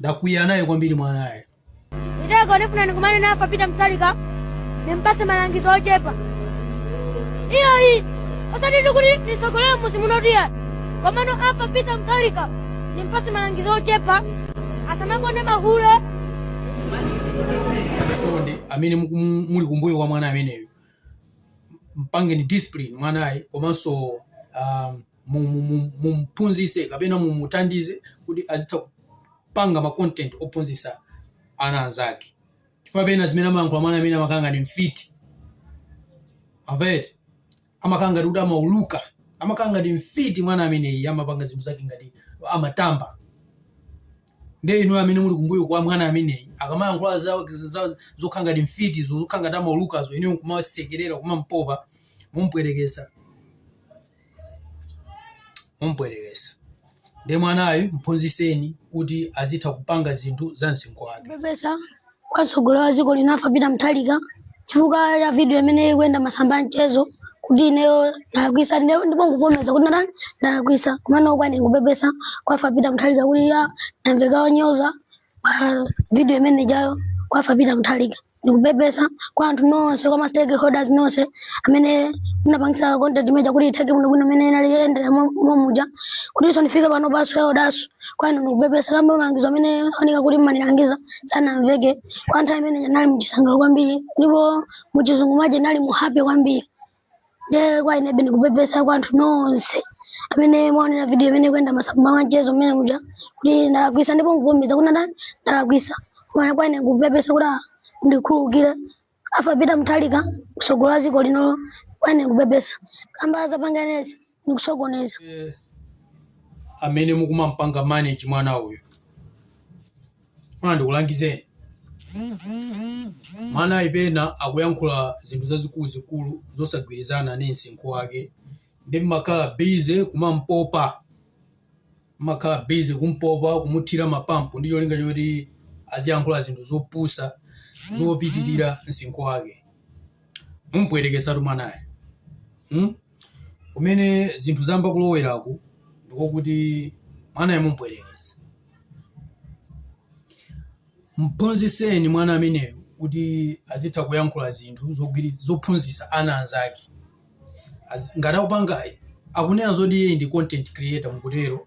ndakwiya naye kwambiri mwanayo Nditego ndifuna ndikumane naye Arthur Peter Mutharika ndimpase malangizo ochepa iyo iyi osati ndikuti ndisogolere muzi muno tiya komano Arthur Peter Mutharika ndimpase malangizo ochepa asamakonde mahule chonde amene muku- mu- muli kumbuyo kwa mwana ameneyo mpangeni discipline mwanayi komanso um, mu- mu- mu- mumphunzise kapena mumuthandize kuti azitha kupanga ma content ophunzisa ana anzake chifukwa pena zimene amayankhula mwana amene amakhala ngati mfiti avete amakhala ngati kuti amauluka amakhala ngati mfiti mwana ameneyi amapanga zinthu zake ngati amatamba nde inu amene muli kumbuyo kwa mwana ameneyi akamayankhula za- za- zokhala ngati mfiti zo- zokhala ngati amaulukazo inuyo kumasekerera kumampopa mumpwetekesa mumpwetekesa nde mwanayu mphunziseni kuti azitha kupanga zinthu za msinkhu wake pepesa kwa mtsogoleri wa dziko lino Arthur Peter Mutharika chifukwa cha video imene ikuyenda masamba a mchezo kuti ineyo ndalakwisa ine- ndipo nkuvomereza kuti ndatani ndalakwisa komano kwa ine nkupepesa kwa Arthur Peter Mutharika kuti ya ndamveka onyoza pa video imene ijayo kwa Arthur Peter Mutharika ndikupepesa kwa anthu nonse kwa ma stakeholders nonse amene munapangisa content imeja kuti itheke bwinobwino mmene inali yendera momuja kutinso ndifike pano paso yaodaso kwa ine ndikupepesa kamba malangizo amene oneka kuti mmanilangiza sanamveke kwa nthawi imene nali muchisangalalo kwambiri ndipo muchizungu maje nali mu happy kwambiri nde kwa inebe ndikupepesa kwa anthu nonse amene mwaonera video imene ikuyenda masamba a mchezo mmene muja kuti ndalakwisa ndipo nkuvomereza kuti ndatani ndalakwisa koma kwa ine kupepesa kuti ah, ndikhululukire Arthur Peter Mutharika msogoleri wa dziko lino kwa ine kupepesa kamba zapanga inezi ndikusokoneza Eh, amene mukumampanga manage mwana uyu funa ndikulangizeni mwanayi pena akuyankhula zinthu zazikuluzikulu zosagwirizana ndi msinkhu wake nde mmakhala busy kumampopa Mmakhala busy kumpopa kumuthira ma pump ndi cholinga choti aziyankhula zinthu zopusa zopitirira msinkhu wake. Mumpwetekesatu mwanayo. Hmm? Kumene zinthu zayamba kuloweraku ndikokuti mwanayo mumpwetekesa. Mphunzitseni mwana ameneyu kuti azitha kuyankhula zinthu zogwiri zophunzitsa ana anzake. As- ngati akupangayi akunena zoti iye ndi content creator mukutero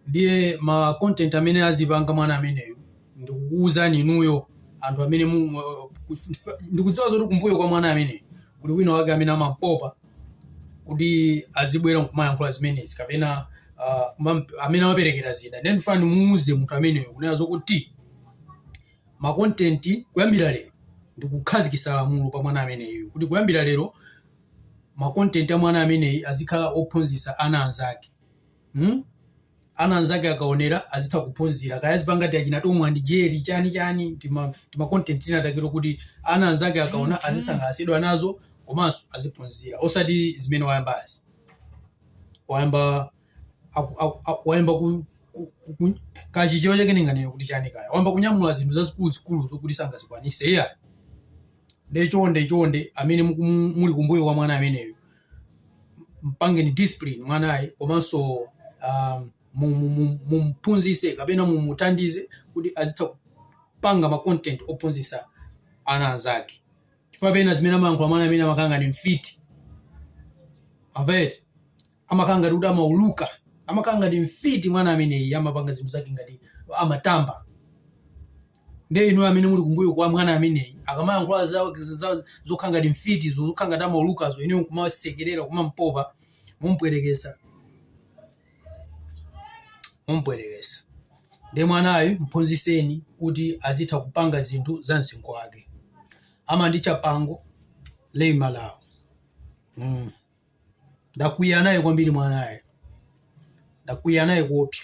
ndiye ma content amene azipanga mwana ameneyu ndikukuwuzani inuyo anthu amene mu- mu- ku- ndikudziwa zoti kumbuyo kwa mwana ameneyu kuli wina wake amene amampopa kuti azibwera nkumayankhula zimenezi kapena ah, kumam- amene amaperekera zida nde ndifuna ndimuuze munthu ameneyo kunena zokuti makontenti kuyambira lero ndikukhazikisa lamulo pa mwana ameneyu kuti kuyambira lero makontenti a mwana ameneyi azikhala ophunzisa ana anzake hmm? ana anzake akaonera azitha kuphunzira kaya azipanga ti achina tomu ndi jeri chani chani tima, tima content tina ta kids kuti ana anzake akaona azisangalatsidwa nazo komanso aziphunzira osati zimene wayambazi wayamba aku- aku- aku- wayamba ku- ku- ku- ku- pachichewa chake ndinganene kuti chani kaya wayamba kunyamula zinthu zazikuluzikulu zokuti sangazikwanise iya nde chonde chonde amene muku- muli kumbuyo kwa mwana ameneyo mpangeni discipline mwanayi komanso um, mu- mu- mu- mumphunzise kapena mumuthandize kuti azitha kupanga ma content ophunzisa ana anzake chifukwa pena zimene amayankhula mwana amene amakhala ngati mfiti avete amakhala ngati kuti amauluka amakhala ngati mfiti mwana ameneyi amapanga zinthu zake ngati amatamba nde inu amene muli kumbuyo kwa mwana ameneyi akamayankhula za- za- zokhala ngati mfiti zo zokhala ngati amaulukazo inu kumasekerera kumampopa mumpwetekesa mumpwetekesa nde mwanayo mphunziseni kuti azitha kupanga zinthu za msinkhu wake amanditcha pango lei malawo mm. ndakwiya naye kwambiri mwanayo ndakwiya naye kuopsa.